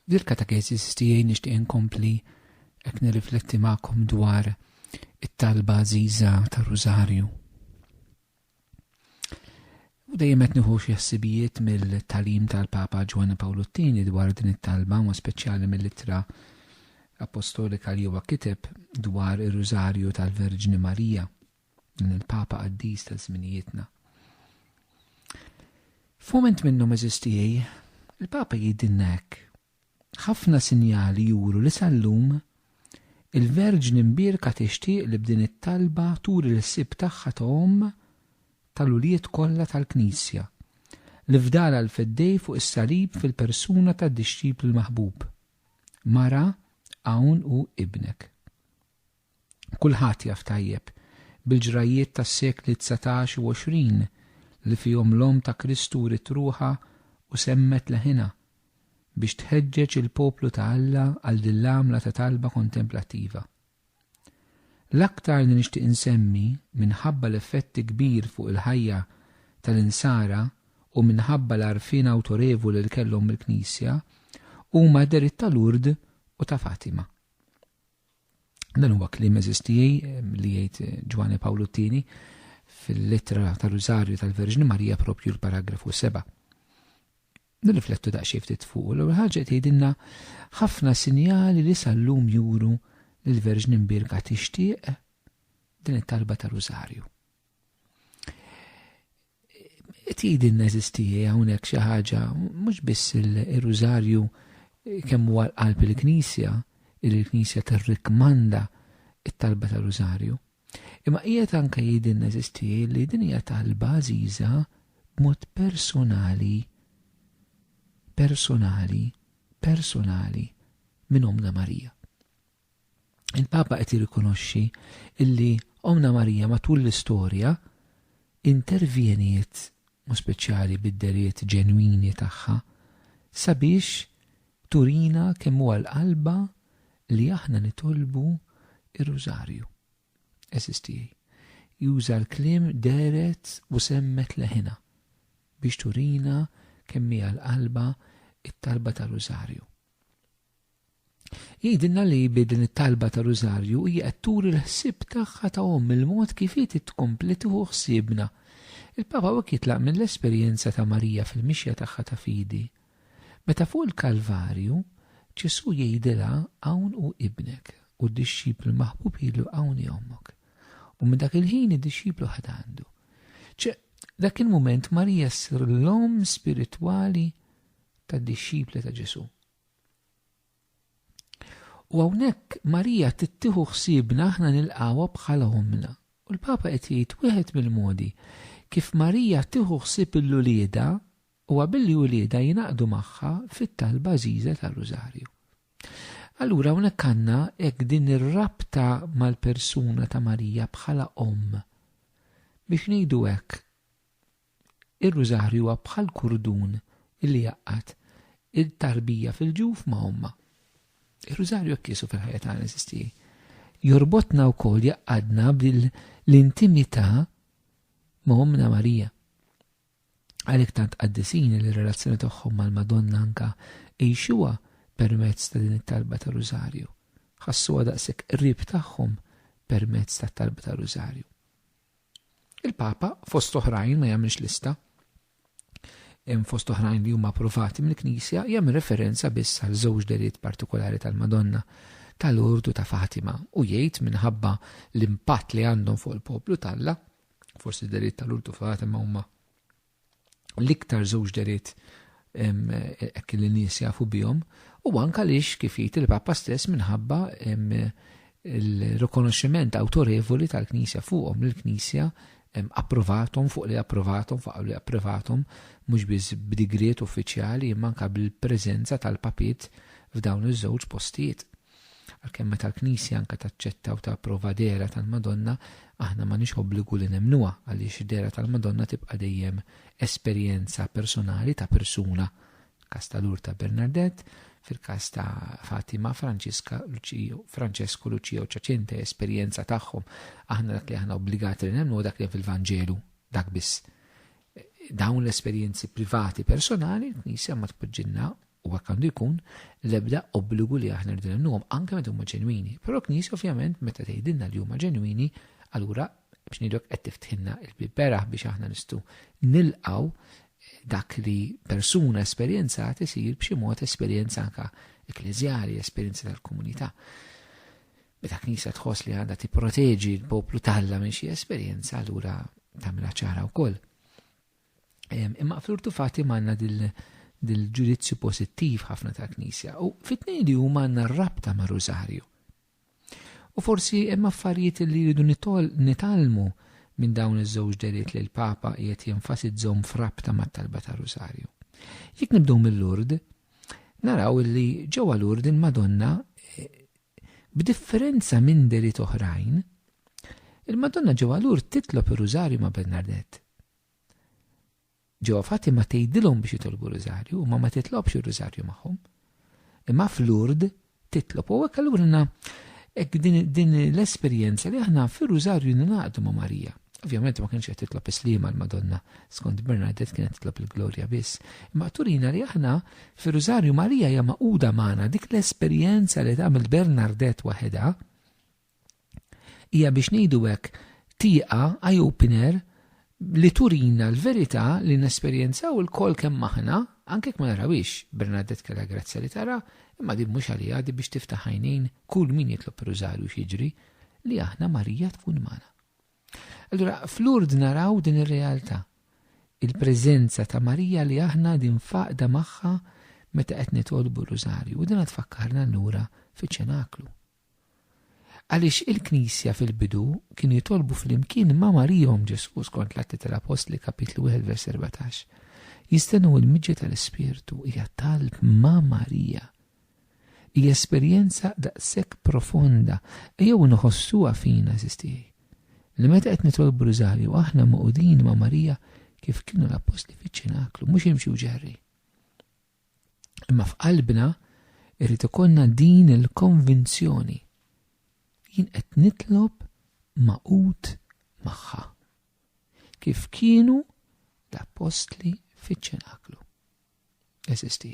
F'dil katekesis tiegħi nixtieq inkompli hekk nirrifletti magħkom dwar it-talba għażiża tar-Rużarju. U dejjem qed nieħu xi ħsibijiet mill-talim tal-Papa Ġwanni Pawlu t-Tieni dwar din it-talba, ma speċjali mill-ittra apostolika li huwa kiteb dwar ir-Rużarju tal-Verġni Marija. Dan il-Papa qaddis ta' żminijietna. F'mument minnhom eżiż tiegħi, il-Papa jgħidilna hekk, Ħafna sinjali juru li sal-lum, il-Verġni Mbierka tixtieq li b'din it-talba turi l-ħsieb tagħha ta' omm tal-ulied kollha tal-Knisja, li fdalha l-Feddej fuq is-Salib fil-persuna tad-dixxiplu l-maħbub, Mara, hawn hu ibnek. Kulħadd jaf tajjeb, bil-ġrajjiet tas-sekli dsatax u għoxrin, li fihom l-Omm ta' Kristu wriet ruħha u semmet leħinha, biex tħeġġeġ il-poplu ta' Alla għal din l-għamla ta' talba kontemplattiva. L-aktar li nixtieq insemmi, minħabba l-effetti kbir fuq il-ħajja tal-Insara u minħabba l-għarfien awtorevoli li kellhom mill-Knisja, huma d-dehriet ta' Lourdes u ta' Fatima. Dan huwa kliem eżis tiegħi li jgħid eh, Ġwani Pawlu t-tieni fil-litra tal-Rużarju tal-Verġni Marija propju l-paragrafu 7. Nirriflettu daqsxejn ftit fuq l ħaġa tgħidilna ħafna sinjali li sal-lum juru li l-Verġni Mbirka tixtieq din it-talba tal-Rużarju. Tidi neżisti hawnhekk xi ħaġa mhux biss ir-rużarju kemm huwa l-qalb il-Knisja, il-Knisja tirrikmanda it-talba ta' rużarju. Imma qiegħed anke jidi neżisti li din hija talba għażiża b'mod personali personali personali minn Omna Marija. il-Papa qed jirrikonoxxi illi Ommna Marija matul l-istorja intervjeniet, mod speċjali bid-dehriet ġenwini tagħha, sabiex turina kemm hu għall-qalba li aħna nitolbu r-Rużarju. Għeżież tiegħi, juża l-kliem dehret u semmet leħinha biex turina kemm hi għall-qalba t-talba tar-Rużarju. Jgħidilna li bi din it-talba ta' Rużarju hija qed turi l-ħsieb tagħha ta' omm il-mod kif hi trid tkompli tieħu ħsiebna. Il-Papa hawnhekk jitlaq mill-esperjenza ta' Marija fil-mixja tagħha ta' fidi. Meta fuq il-Kalvarju, Ġesù jgħidilha hawn hu ibnek, u d-dixxiplu l-maħbub jgħidlu hawn hi ommok. U minn dak il-ħin id-dixxiplu ħad għandu. Ċe, dak il-mument Marija ssir l-omm spiritwali tad-dixxipli ta' Ġesù. U hawnhekk Marija tittieħu ħsiebna aħna nilqgħuha bħala ommna. U l-Papa qed jgħid wieħed mill-modi kif Marija tieħu ħsieb lil uliedha huwa billi uliedha jingħaqdu magħha fit-talba għażiża tar-Rużarju. Allura hawnhekk għandna hekk din ir-rabta mal-persuna ta' Marija bħala omm. Biex ngħidu hekk, Ir-Rużarju huwa bħal kurdun li jgħaqqad it-tarbija fil-ġuf ma' ommha. Ir-Rużarju hekk qiesu fil-ħajja tagħna, eżiż tiegħi. Jorbotna wkoll jgħaqqadna bl-intimità ma' Ommna Marija. Għalhekk tant qaddisin li r-relazzjoni tagħhom mal-Madonna anka għixuha permezz ta' din it-talba ta' Rużarju. Ħassuha daqshekk qrib tagħhom permezz tat-talba ta' Rużarju. Il-Papa, fost oħrajn, ma jagħmilx lista. Hemm fost oħrajn li huma approvati mill-Knisja jagħmel referenza biss għal żewġ deliet partikolari tal-Madonna ta' Lourdes u ta' Fatima u jgħid minħabba l-impatt li għandhom fuq il-poplu t'Alla, forsi d-deliet ta' Lourdes u Fatima huma l-iktar żewġ deriet hekk li nies jafu bihom, u anka lix kif jgħid il-Papa stess minħabba il-rikonoxximent awtorevoli tal-Knisja fuqhom li l-Knisja approvathom fuq li approvathom fuq li approvathom mhux biss b'digriet uffiċjali imma anka bil-preżenza tal-papiet f'dawn iż-żewġ postijiet. Għalkemm meta l-Knisja anke taċċetta u tapprova dehra tal-Madonna, aħna m'għandniex obbligu li nemmnuha għaliex id-dehra tal-Madonna tibqa' dejjem esperjenza personali ta' persuna, każ ta' Lurta Bernardett, fil-każ ta' Fatima, Franċiska, Luċija, Franċesku, Luċija u Ċaċinta hija esperjenza tagħhom. Aħna dak li aħna obbligati li nemmnu dak li fil-Vanġelu, dak biss. Dawn l-esperjenzi privati personali, l-Knisja ma tpoġġilna u hekk għandu jkun, l-ebda obbligu li aħna rridu nemmnuhom, anke meta huma ġenwini. Però l-Knisja ovvjament meta tgħidilna li huma ġenwini, allura biex ngħidlok qed tiftħilna l-bieb beraħ biex aħna nistgħu nilqgħu dak li persuna esperjenzat isir b'xi mod esperjenza anka ekkleżjali, esperjenza tal-komunità. Meta knisja tħoss li għandha tipproteġi l-poplu talla minn xi esperjenza allura tagħmilha ċara wkoll. Imma flurtu fati manna dil-ġudizzju pozittiv ħafna tal-Knisja u fit-tnejn li huma għandna rabta ma' Rużarju. U forsi hemm affarijiet li jridu nitalmu minn dawn iż-żewġ deriet li l-Papa qiegħed jenfasizzhom f'rabta mat-talba ta' Rużarju. Jekk nibdew mill-Lurd, naraw li ġewwa Lurd il-Madonna eh, b'differenza minn deriet oħrajn, il-Madonna ġewwa Lurd titlob ir-Rużarju ma' Bernardet. Ġewwa Fatima tgħidilhom biex jitolbu r-Rużarju, imma ma titlobx ir-Rużarju magħhom. Imma f'Lourdes titlob. U hekk allura għandna hekk din l-esperjenza li aħna fir-Rużarju ningħaqdu ma' Marija. Ovvjament ma kienx qed titlob islima l-Madonna, skont Bernadette kienet titlob il-glorja biss. Imma turina li aħna fir-Rużarju Marija hija maquda magħna dik l-esperjenza li tagħmel Bernadette waħedha Hija biex ngħidu hekk tieqa, eye opener, li turina l-verità li nesperjenzaw ilkoll kemm aħna, anke jekk ma narawhiex, Bernadette kellha grazzja li tara, imma din mhux għaliha, din biex tiftaħ għajnejn kull min jitlob ir-Rużarju x'jiġri, li aħna Marija tkun magħna. Allura f'Lourdes naraw din ir-realtà, il-preżenza ta' Marija li aħna qegħdin faqda magħha meta qed nitolbu r-Rużarju u din tfakkarna lura fiċ-ċenaklu. Għaliex il-Knisja fil-bidu kienu jitolbu flimkien ma' Marijom Ġesù skont l-Atti tal-Appostli kapitlu wieħed vers erbatax. Jistennew il-miġja tal-Ispirtu hija talb ma' Marija. Hija esperjenza daqshekk profonda ejjew inħossuha fina eżiż tiegħi. Li meta qed nitolbu riżarju aħna moqudin ma' Marija kif kienu l-Appostli fiċ-ċinaklu mhux imxi u ġerri. Imma f'qalbna irid ikollna din il-konvinzjoni. Jien qed nitlob magħqud magħha. Kif kienu l-appostli fiċ-ċenaklu. Eżisti.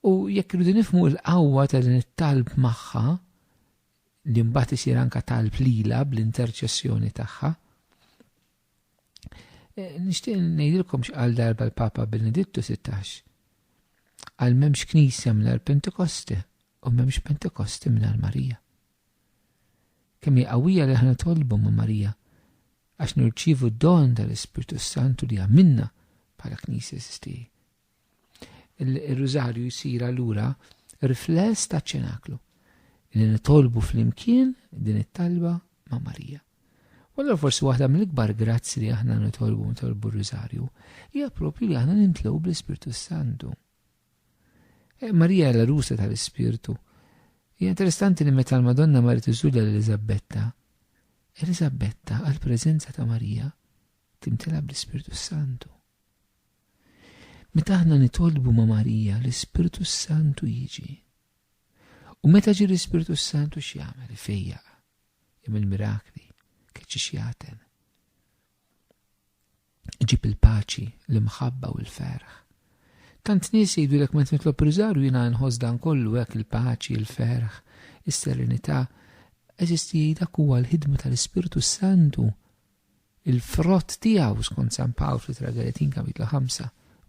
U jekk irridu nifmu l-qawwa ta' din it-talb magħha, li mbagħad isir anka talb lila bl-interċessjoni tagħha, Eh, nixtieq ngħidilkom x'qal darba l-Papa Benedittu 16. Għal m'hemmx knisja mingħajr Pentekosti u m'hemmx Pentekosti mingħajr Marija. Kemm hi qawwija li aħna tolbu ma' Marija għax nirċivu d-don tal-Ispirtu Santu li għamilna bħala knisja sistiri. Ir-Rużarju jsir allura rifless taċ-ċenaklu li nitolbu flimkien din it-talba ma' Marija. U allura forsi waħda mill-ikbar grazzi li aħna nitolbu nitolbu r-Rużarju hija propju li aħna nintlew bl-Ispirtu Santu. Eh, Marija l rusa tal-Ispirtu. Hija interessanti li meta l-Madonna marit iżulja l-Elizabbetta, Elizabbetta għal preżenza ta' Marija timtela bl-Ispirtu Santu. Meta aħna nitolbu ma' Marija l-Ispirtu s-Santu jiġi. U meta ġie l-Ispirtu s-Santu x'jagħmel? Ifejjaq, jagħmel mirakli, keċċi x'jagħten. Iġib il-paċi, l-imħabba u l-ferħ. Tant nies jgħidulek meta nitlob riżarju jiena nħoss dan kollu hekk il-paċi, il-ferħ, is-serenità, eżisti dak huwa l-ħidma tal-Ispirtu s-Santu il-frott tiegħu, skont San Pawl fl-Ittra Galatin kapitlu 5,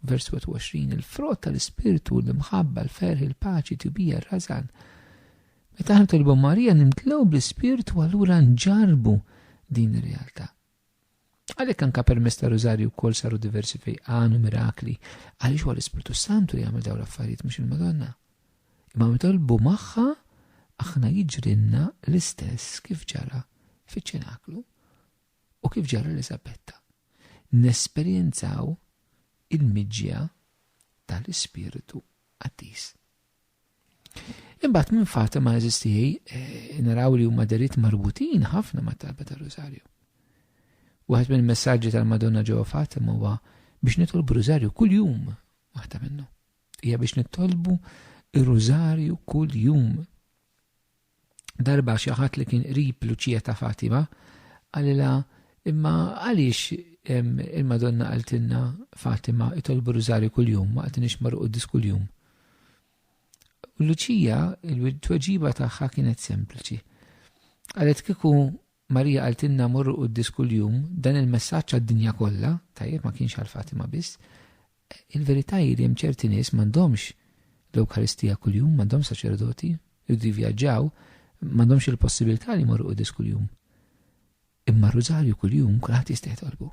vers 21, il-frott tal-ispirtu hu l-imħabba, l-ferħ, il-paċi, tibija, r-rażan. Meta aħna tolbu Marija nimtlew bl-ispirtu allura nġarbu din ir-realtà. Għalhekk anka permess ta' Rużarju wkoll saru diversi fejqan u mirakli, għaliex huwa l-Ispirtu Santu li jagħmel dawn l-affarijiet mhux il-Madonna. Imma mitolbu magħha aħna jiġrinna l-istess kif ġara fiċ-ċenaklu. u kif ġara Elisabetta, nesperjenzaw il-miġja tal-Ispirtu Qaddis. Imbagħad minn Fatima eżistijaj eh, naraw li huma derit marbutin ħafna ma' talba tal-Rożarju. Waħed minn messaġġi tal-Madonna ġo Fatima huwa biex nitolbu Rożarju kuljum waħda minnu. Hija biex nitolbu ir-Rożarju kuljum. Darba xi ħadd li kien qrib Luċija ta' Fatima qalilha imma għaliex il-Madonna qaltilna Fatima itolbu rużarju kuljum ma qatinix marru quddis kuljum. U Luċija il-tweġiba tagħha kienet sempliċi. Qalet kieku Marija qaltilna morru quddis kuljum dan il-messaġġ għad-dinja kollha, tajjeb ma kienx għal Fatima biss, Il-verità hi li hemm ċerti nies m'għandhomx l-Ewkaristija kuljum, m'għandhomx saċerdoti, jridu jivvjaġġaw, m'għandhomx il-possibilità li jmorru quddies kuljum. Imma r-Rużarju kuljum kulħadd jista' jitolbu.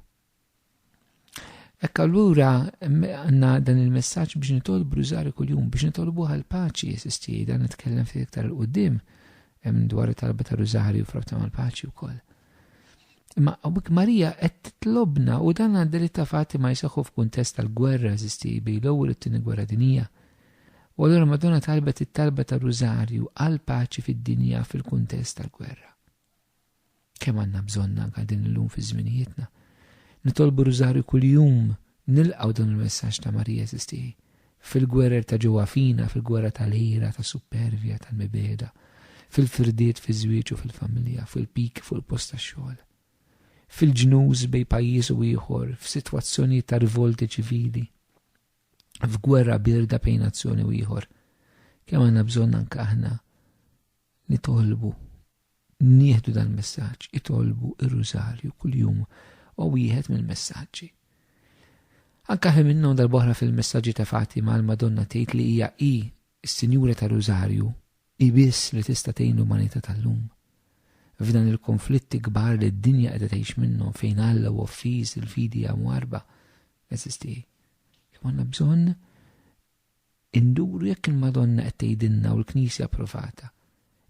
Hekk allura għandna dan il-messaġġ biex nitolbu rużarju kuljum biex nitolbu għal paċi jesistiej dan nitkellem ftit iktar il-qudiem hemm dwar it-talba ta' rużarju frabta mal-paċi wkoll. Imma għawik Marija qed titlobna u dan għadda li ta' fatti ma jisaxu f'kuntest tal-gwerra eżisti bej l-ewwel u t-tieni gwerra dinija. U allura Madonna talbet it-talba ta' Rużarju għal paċi fid-dinja fil-kuntest tal-gwerra. Kemm għandna bżonna anka din illum fi żminijietna. Nitolbu Rużarju kuljum Nilqgħu dan il-messaġġ ta' Marija Jeżiss tiegħi. Fil-gwerer ta' ġewwa fina, fil-gwerra tal-ħira, tas-suppervja, tal-mibegħda, fil-firdiet fiż-żwieġ u fil-familja, fuq il-piki fuq il-post tax-xogħol, fil-ġnus bejn pajjiż u ieħor, f'sitwazzjonijiet ta' rivolti ċivili, f'gwerra bierda bejn nazzjoni u ieħor, kemm għandna bżonn anke aħna Nitolbu nieħdu dal-messaġġ, itolbu r-Rużarju kuljum u wieħed mill-messaġġi. Anke ħli minnhom darb'oħra fil-messaġġi ta' Fatima l-Madonna tgħid li hija hi s-Sinjura tar-Rużarju, hi biss li tista' tgħin l-umanità tal-lum. F'dan il-konflitti kbar li d-dinja qiegħda tgħix minnhom fejn Alla hu offiż, il-fidi hija mwarrba, eżisti hi. Imma għandna bżonn Induru jekk il-Madonna qed tgħidilna u l-Knisja approvata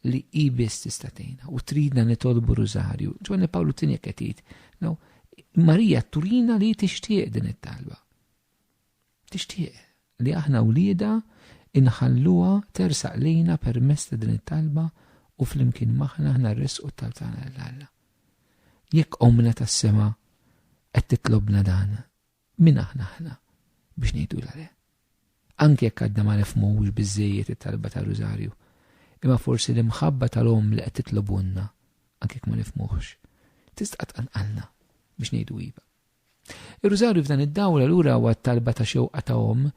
li hi biss tista' tgħinna u tridna nitolbu r-Rużarju. Ġwanni Pawlu t-Tieni hekk qed jgħid, naw, Marija turina li hi tixtieq din it-talba. Tixtieq li aħna wliedha inħalluha tersaq lejna permezz ta' din it-talba u flimkien maħna aħna rresqu t-talb tagħna lil Alla. Jekk omna tas-sema qed titlobna dan, Min aħna aħna biex ngħidulha le? Anki jekk għadna ma nifhmuhux biżżejjed it-talba tar-Rużarju, imma forsi l-imħabba tal-omm li qed titlobulna, anki jekk ma nifhmuhx, tista' tqanqalna biex ngħidu iva. Ir-Rużarju f'dan id-dawl allura huwa t-talba ta' xewqa ta' omm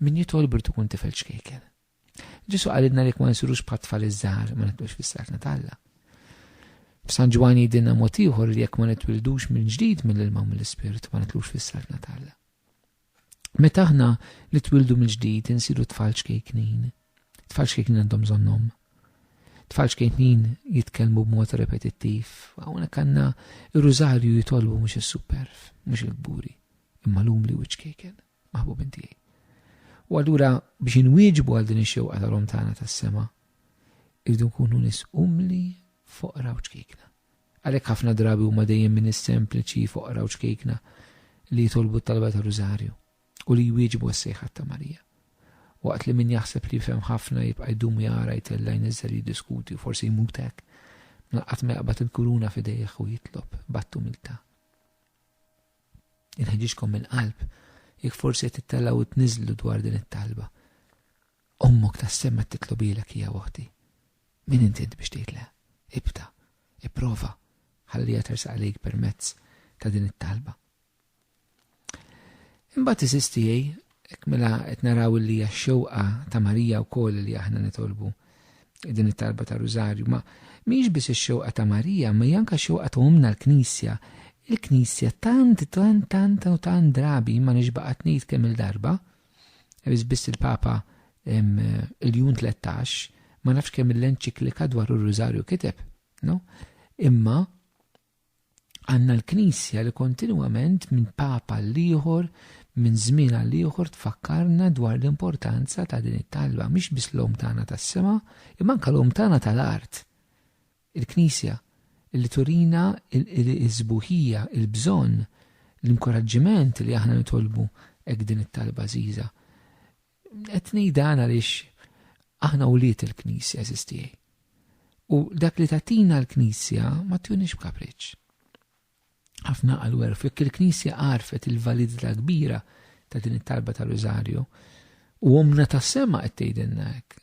min jitolb irid ikun tifel ċkejken. Ġesu għalidna li ma nsirux bħat tfal iż-żgħar ma nitlux fis-sarna talla. F'San Ġwan jidinna mod ieħor li jekk ma nitwildux minn ġdid mill-ilma u mill-ispirt ma nitlux fis-sarna talla. Meta aħna nitwildu minn ġdid insiru tfal ċkejknin. Tfal ċkejknin għandhom żonnhom. Tfal ċkejknin jitkellmu b'mod repetittiv, hawnhekk għandna ir-rużarju jitolbu mhux is-superf, mhux il-kburi, imma l-umli u ċkejken. maħbubin tiegħi. U allura biex inwieġbu għal din ix-xewqa tal-om tagħna tas-sema, irridu nkunu nis umli foqra u ċkejkna. Għalhekk ħafna drabi huma dejjem minn is-sempliċi foqra u ċkejkna li jitolbu t-talba ta' Rużarju u li jwieġbu s-sejħat ta' Marija. Waqt li min jaħseb li jifhem ħafna jibqa' jdum jara jtellajn iżżar jiddiskuti u forsi jmutek, naqat meqbad il-kuruna fidejh u jitlob battu milta. Inħeġġiġkom mill-qalb jekk forsi qed tittellgħu u tniżżlu dwar din it-talba. Ommok tas-sema titlobilek hija oħti. Min int int biex tgħid le? Ibda, ipprova, ħalliha tersaq lejk permezz ta' din it-talba. Imbagħad iżiż tiegħi Hekk mela qed naraw li hija x-xewqa ta' Marija wkoll li aħna nitolbu din it-talba tar-Rużarju. Ma mhix biss ix-xewqa ta' Marija, ma hija anke x-xewqa ta' Ommna l-Knisja. Il-Knisja tant tant tant u tant drabi ma nix baqgħet ngħid kemm il-darba, biss biss il-Papa il-Jun 13, ma nafx kemm l-enċiklika dwar ir-Rużarju kiteb, no? Imma Għandna l-Knisja li kontinwament minn Papa l-ieħor, minn żmien għal ieħor tfakkarna dwar l-importanza ta' din it-talba mhix biss l-Omm tagħna tas-sema, imma anke l-Omm tagħna tal-art. Il-Knisja li turina l-isbuħija, il-bżonn, l-inkoraġġiment li aħna nitolbu hekk din it-talba għażiża. Qed ngħid dan għaliex aħna wlied il-Knisja għażiż tiegħi. U dak li tatina l-Knisja ma tjunix b'kapriċċ. Ħafna qalu għerf jekk il-Knisja għarfet il-validità kbira ta' din it-talba ta' Rosario u omna tas-sema qed tgħidilna hekk.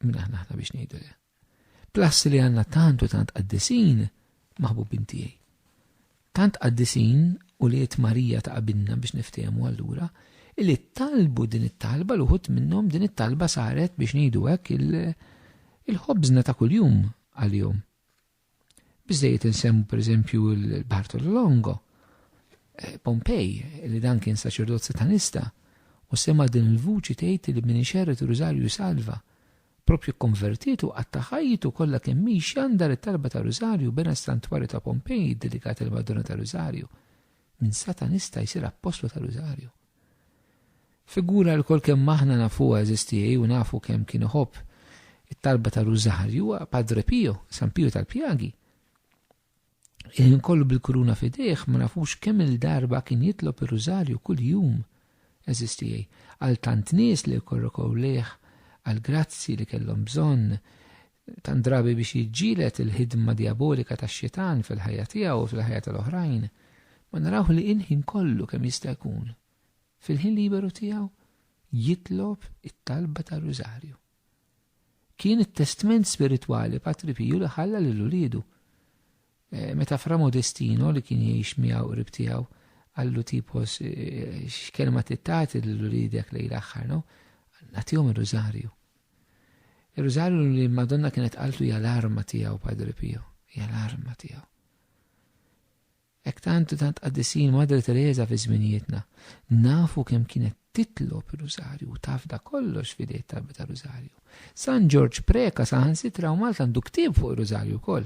Min aħna aħna biex ngħidu le. Plassi li għandna tantu tant qaddisin maħbubin tiegħi. Tant qaddisin u li Marija ta' qabilna biex niftehmu allura illi talbu din it-talba l uħut minnhom din it-talba saret biex ngħidu hekk il-ħobżna ta' kuljum għalihom. Biżejjed insemmu pereżempju l-Bartolo Longo, eh, Pompej, li dan kien saċerdot satanista, u sema din il-vuċi tgħid li min ixerret Rużarju salva. Propju konvertiet u qatta' ħajtu kollha kemm hi xandar it-talba ta' Rużarju bena s-santwarju ta' Pompej dedikat il-Madonna ta' Rużarju. Min satanista jsir appostlu ta' Rużarju. Figura li lkoll kemm aħna nafuha eżisti hi u nafu kemm kien iħobb it-talba tar-Rużarju huwa Padre Pio, San Pio tal-Pjagi. Il-ħin kollu bil-kuruna f'idejh ma nafux kemm il-darba kien jitlob ir-Rużarju kuljum eżisti hi għal tant nies li jkorrokow lejh għall-grazzji li kellhom bżonn Tant drabi biex jiġġieled il-ħidma djabolika tax-Xitan fil-ħajja tiegħu u fil-ħajja tal-oħrajn, ma narawh li il-ħin kollu kemm jista' jkun, fil-ħin liberu tiegħu, jitlob it-talba tar-Rużarju. Kien it-testment spiritwali Patri Piju li ħalla lil uliedu. Meta Fra Modestino, li kien jgħix miegħu qrib tiegħu, qal l-utipos, X'kelma trid tagħti lil uliedek lejl aħħar, no? Nagħtihom ir-Rużarju. Ir-Rużarju li l-Madonna kienet qaltlu hija l-arma tiegħu Padre Pio, hija l-arma tiegħu. Ek tant tant qaddisin Madre Teresa fi żminijietna, nafu kemm kienet titlob ir-Rużarju u tafda kollox fidejt talba ta' Rużarju. San Ġorġ Preka saħansitra u Malta għandu ktieb fuq ir-Rużarju wkoll.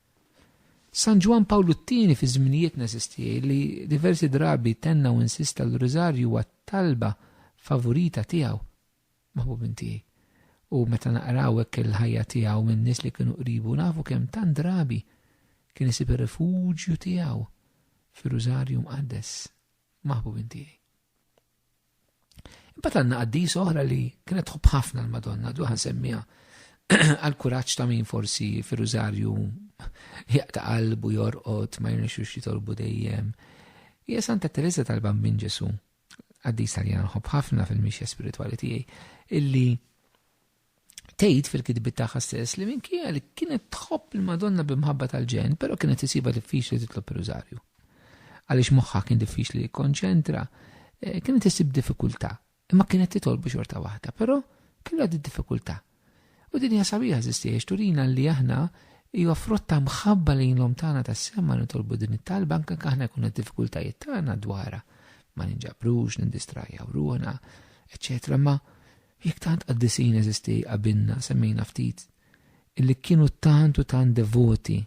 San Ġwann Pawlu t-Tieni fi żminijietna eżisti jgħid li diversi drabi tenna u insista li r-Rużarju huwa t-talba favurita tiegħu, Maħbubin tiegħi. U meta naqraw hekk il-ħajja tiegħu minn nies li kienu qribu nafu kemm tant drabi kien isib ir-rifuġju tiegħu fir-Rużarju Mqaddes, Maħbubin tiegħi. Imbagħad għandna qaddis oħra li kienet tħobb ħafna l-Madonna, duħan semmija għal kuraġġ ta' min forsi fir-rużarju jaqta' qalbu jorqod ma jirnexux jitolbu dejjem. Hija Santa Teresa tal-Bambin Ġesu, qaddis tal-jan ħobb ħafna fil-mixja spiritwali tiegħi, illi Tgħid fil-kitbiet tagħha stess li minkejja li kienet tħobb il-Madonna bi mħabba tal-ġen, però kienet isibha diffiċli titlob ir-Rużarju. Għaliex moħħha kien diffiċli jikkonċentra, eh, kienet isib diffikultà, imma kienet titolbu xorta waħda, però kellha di diffikultà. U din hija sabiħa żistiex turina li aħna hija frotta mħabba lejn l-om tagħna tas-sema nitolbu din it-talba anke aħna jkun diffikultajiet tagħna dwarha ma ninġabrux, nindistrajjaw ruħna, eċċetera. Ma Jekk tant qaddisin eżisti qabilna semmejna ftit illi kienu tant u tant devoti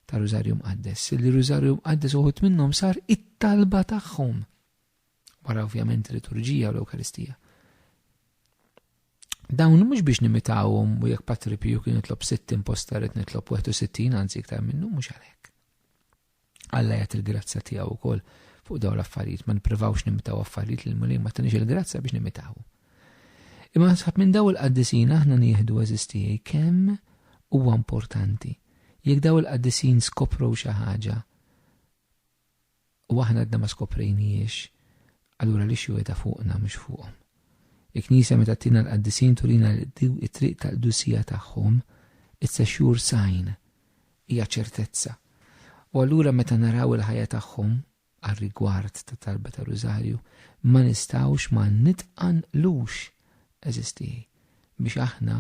tar-Rużarju Mqaddes illi r-Rużarju Mqaddes uħud minnhom sar it-talba tagħhom, wara ovvjament il-liturġija u l-Ewkaristija. Dawn mhux biex nimitawhom u jekk Patri Piju kien jitlob 60 posta rrid nitlob 61 anzi iktar minnu mhux għalhekk. Alla jagħti l-grazzja tiegħu wkoll fuq dawn l-affarijiet, ma nipprivawx nimitaw affarijiet li l-Mulej ma tinix il-grazzja biex nimitaw. Imma nsab minn daw il-qaddisin aħna nieħdu eżistijaj kemm huwa importanti. Jekk daw il-qaddisin skopru xi ħaġa u aħna għadna ma skoprejniex, allura li xjuweda fuqna mhux fuqhom. Il-Knisja meta tina l-qaddisin turina it-triq tal-dusija tagħhom, it's a sure sign hija ċertezza. U allura meta naraw il-ħajja tagħhom għar-rigward tat-talba tar-Rużarju, ma nistgħux ma nitqanqlux, għeżież tiegħi, biex aħna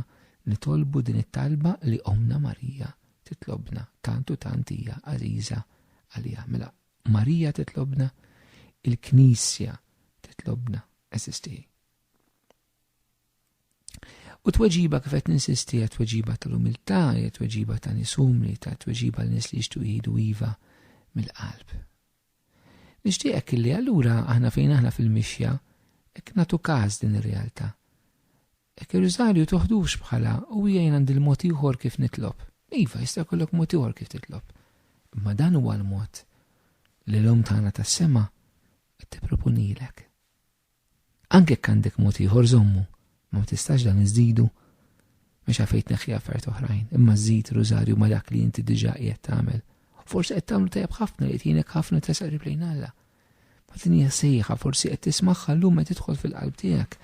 nitolbu din it-talba li Ommna Marija titlobna, tant u tant hija għażiża għalija. Mela, Marija titlobna, il-Knisja titlobna, għeżież tiegħi. U tweġiba kif qed ninsisti hija tweġiba tal-umiltà, hija tweġiba ta' nies umli, ta' tweġiba l nies li jixtu jgħidu iva mill-qalb. Nixtieqek illi allura aħna fejn aħna fil-mixja hekk nagħtu każ din ir-realtà. Hekk ir-riżarju toħdux bħala u hija jien għandi l-mod ieħor kif nitlob. Iva, jista' jkollok mod ieħor kif titlob. Imma dan huwa l-mod li l-Omm tagħna tas-sema qed tippropunilek. Anke jekk għandek mod ieħor żommu, ma ma tistax dan iżdidu mhux għalfejn tneħħi affarijiet oħrajn, imma żżid rużarju ma' dak li inti diġà qiegħed tagħmel. Forsi qed tagħmlu tajjeb ħafna li qed ħafna tresaq qrib lejn Alla. Ma din hija sejħa, forsi qed tismagħha llum qed tidħol fil-qalb tiegħek.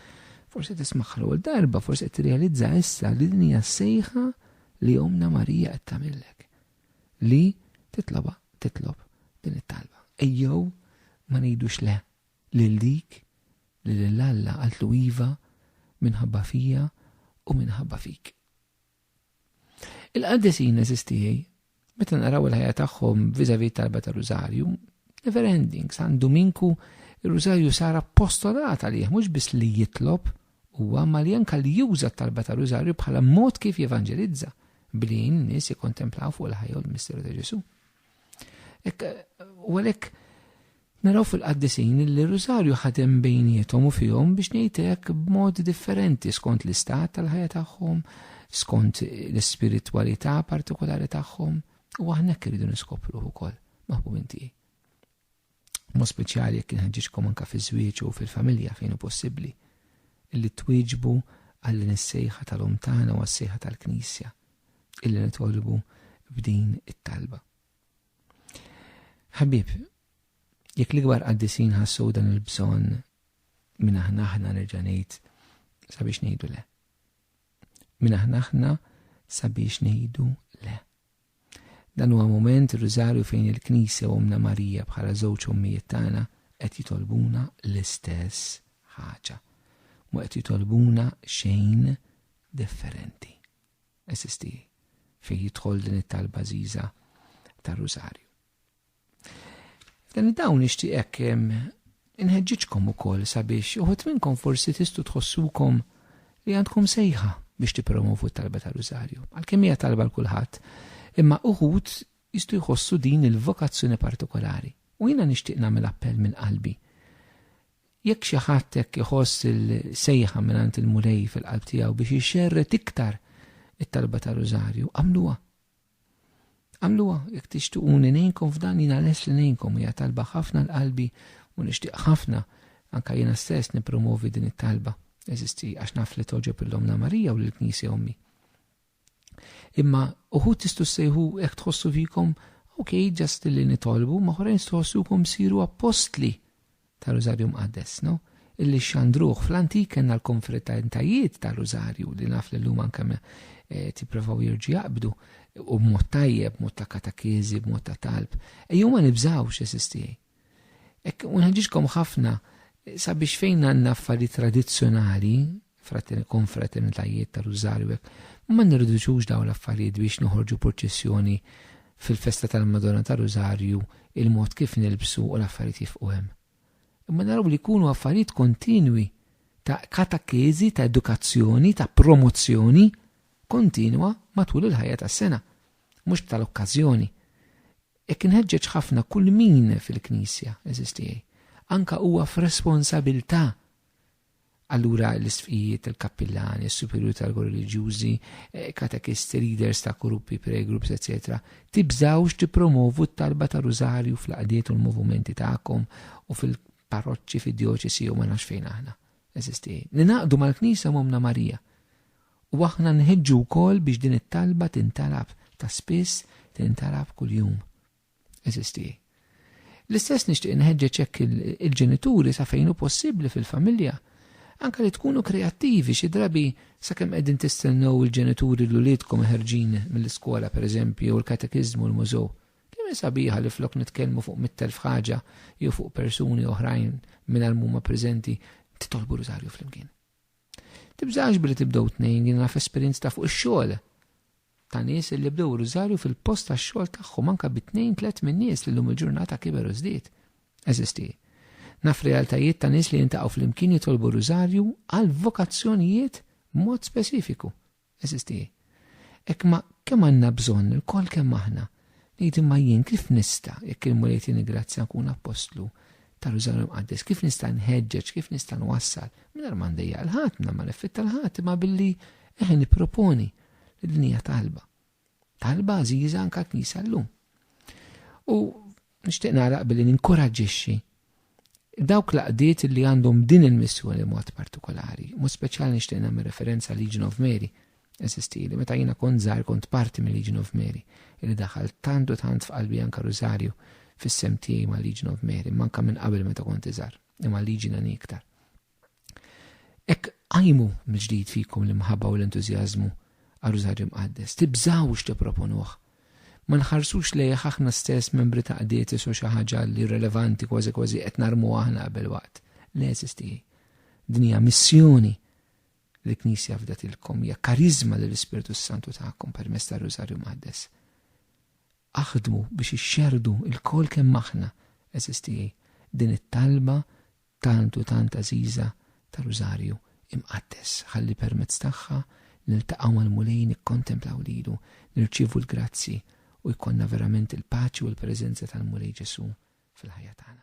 Forsi qed tismagħha l-ewwel darba, forsi qed tirrealizza issa li din hija sejħa li omna Marija qed tagħmillek. Li titloba titlob din it-talba. Ejjew ma ngħidux le Lil dik li lil Alla qaltlu iva minħabba fija u minħabba fik. Il-qaddisin għeżież tiegħi, meta naraw il-ħajja tagħhom vizavi talba ta' rużarju, never ending, San Duminku ir-rużarju sar appostolat għalih mhux biss li jitlob huwa ma li anka li juża t-talba ta' rużarju bħala mod kif jevanġelizza billi jgħin nies jikkontemplaw fuq il-ħajja u l-misteru ta' Ġesu. U għalhekk naraw fil-qaddisin li r-rużarju ħadem bejniethom u fihom biex ngħidlek b'mod differenti skont l-istat tal-ħajja tagħhom, skont l-ispiritwalità partikolari tagħhom, u aħna hekk irridu niskopru wkoll maħbub inti. mod speċjali jekk inħeġġiġkom anke fiż-żwieġ u fil-familja fejn hu possibbli, illi twieġbu għal din is-sejħa tal-Omm tagħna u għas-sejħa tal-Knisja, illi nitolbu b'din it-talba. Ħabib, jekk l-ikbar qaddisin ħassu dan il-bżonn minn aħna aħna nerġa' ngħid sabiex ngħidu le. Minn aħna aħna sabiex ngħidu le. Dan huwa mument ir-Rużarju fejn il-Knisja u Ommna Marija bħala żewġ ommijiet tagħna qed jitolbuna l-istess ħaġa. Mhu qed jitolbuna xejn differenti. Għeżież tiegħi, fejn jidħol din it-talba għażiża tar-Rużarju? Dan id-dawn nixtieqek inħeġġiġkom ukoll sabiex uħut minnkom forsi tistu tħossukom li għandkom sejħa biex tippromovu t-talba ta' rużarju. Għalkemm hija talba l kulħadd, imma uħud jistu jħossu din il-vokazzjoni partikolari. U jiena nixtieq nagħmel appell minn qalbi. Jekk xi ħadd hekk iħoss il-sejħa mingħand il-Mulej fil-qalb tiegħu biex ixxerret iktar it-talba ta' rużarju, għamluha. Għamluha jekk tixtuqu li ngħinkom f'dan jiena lest li ngħinkom hija talba ħafna l-qalbi u nixtieq ħafna anke jiena stess nippromovi din it-talba eżisti għax naf li togħġob lil Ommna Marija u lill-Knisja Ommi. Imma uħud tistgħu ssejħu hekk tħossu fikom, ok, ġast li nitolbu, ma oħrajn tħossukom siru appostli. ta' Rużarju Mqaddes, no? illi xxandruh. Fl-antik kellna l-konfraternitajjiet ta' Rużarju li naf li llum anke eh, tipprovaw jirġi jaqbdu u b'mod tajjeb, b'mod ta' katakiżi, b'mod ta' talb. Ejjew ma nibżawx esistijaj. Ek unħeġġiġkom ħafna sabiex fejn għandna affarijiet tradizzjonali fratern, konfraternitajiet ta' rużarju hekk, ma nirriduċux dawn l-affarijiet biex noħorġu purċissjoni fil-festa tal-Madonna ta' Rużarju il-mod kif nilbsu u l-affarijiet jifqu hemm. Imma naraw li jkunu affarijiet kontinwi ta' katakeżi, ta' edukazzjoni, ta' promozzjoni kontinwa matul il-ħajja tas-sena, mhux tal-okkażjoni. Hekk inħeġġeġ ħafna kull min fil-Knisja, eżistiegħi, anka huwa f'responsabilità Allura l-isqfijiet, il-kappillani, is-superjuri tal-kor reliġjużi, katekisti, leaders ta' gruppi, prayer groups, eċċetera, tibżgħux tippromovu t-talba ta' Rużarju fl-għaqdiet u l-movumenti tagħkom u fil-parroċċi, fid-djoċesi jew ma nafx fejn aħna. Eżisti. Ningħaqdu mal-Knisja u m'Ommna Marija. U aħna nħeġġu wkoll biex din it-talba tintalab ta' spiss, tintalab kuljum. eżisti. L-istess nixtieq inħeġġeġ hekk il-ġenituri sa fejn hu possibbli fil-familja anke li tkunu kreattivi xi drabi sakemm qegħdin tistennew il-ġenituri l uliedkom ħerġin mill-iskola pereżempju jew il-katekiżmu l-mużew. Kemm sabiħa li flok nitkellmu fuq mit-telf ħaġa jew fuq persuni oħrajn mingħajr huma preżenti titolbu rużarju flimkien. Tibżax billi tibdew tnejn jien naf esperjenzi ta' fuq ix-xogħol ta' nies illi bdew rużarju fil-post tax-xogħol tagħhom anke bi tnejn tliet minn nies li llum il-ġurnata kiber u żdied. Eżisti. Naf realtajiet ta' nies li jiltaqgħu flimkien jitolbu rużarju għal vokazzjonijiet b'mod speċifiku. Eżisti. Hekk ma kemm għandna bżonn ilkoll kemm aħna. Ngħid imma jien kif nista', jekk il-Mulej jtini grazzja nkun appostlu ta' Rużannu l-Imqaddes, kif nista' nħeġġeġ, kif nista' nwassal, mingħajr ma ndejjaq 'l ħadd, mingħajr ma neffetta 'l ħadd, imma billi, eħe nipproponi li din hija talba. Talba għażiża anke l-Knisja llum. U nixtieq nagħlaq billi ninkoraġġixxi dawk laqdiet li għandhom din il-missjoni mod partikolari, mod speċjali nixtieq nagħmel referenza Legion of Mary, eżisti li meta jiena kont żgħar kont parti minn Legion of Mary, li daħal tant u tant f'qalbi anka Rosario fis-sem tiegħi ma' Legion of Mary, manka minn qabel meta kont iżgħar, imma Legion għan iktar. Ek qajmu mill-ġdid fikom l-imħabba u l-entużjażmu għar-Rużarju Mqaddes. Tibżgħux tipproponuh. Ma nħarsux lejh aħna stess membri ta' qdietes u xi ħaġa li relevanti kważi kważi qed narmuha aħna qabel waqt. Le, għeżież tiegħi. Din hija missjoni li l-Knisja fdatilkom, hija kariżma li l-Ispirtu s-Santu takom permezz tar-Rużarju Mqaddes. Aħdmu biex ixxerdu lkoll kemm aħna, għeżież tiegħi, din it-talba tant u tant għażiża tar-Rużarju Imqaddes, ħalli permezz tagħha niltaqgħu mal-Mulej, nikkontemplaw lilu, nirċievu l-grazzji u jkollna verament il-paċi u l-preżenza tal-Mulej Ġesù fil-ħajja tagħna.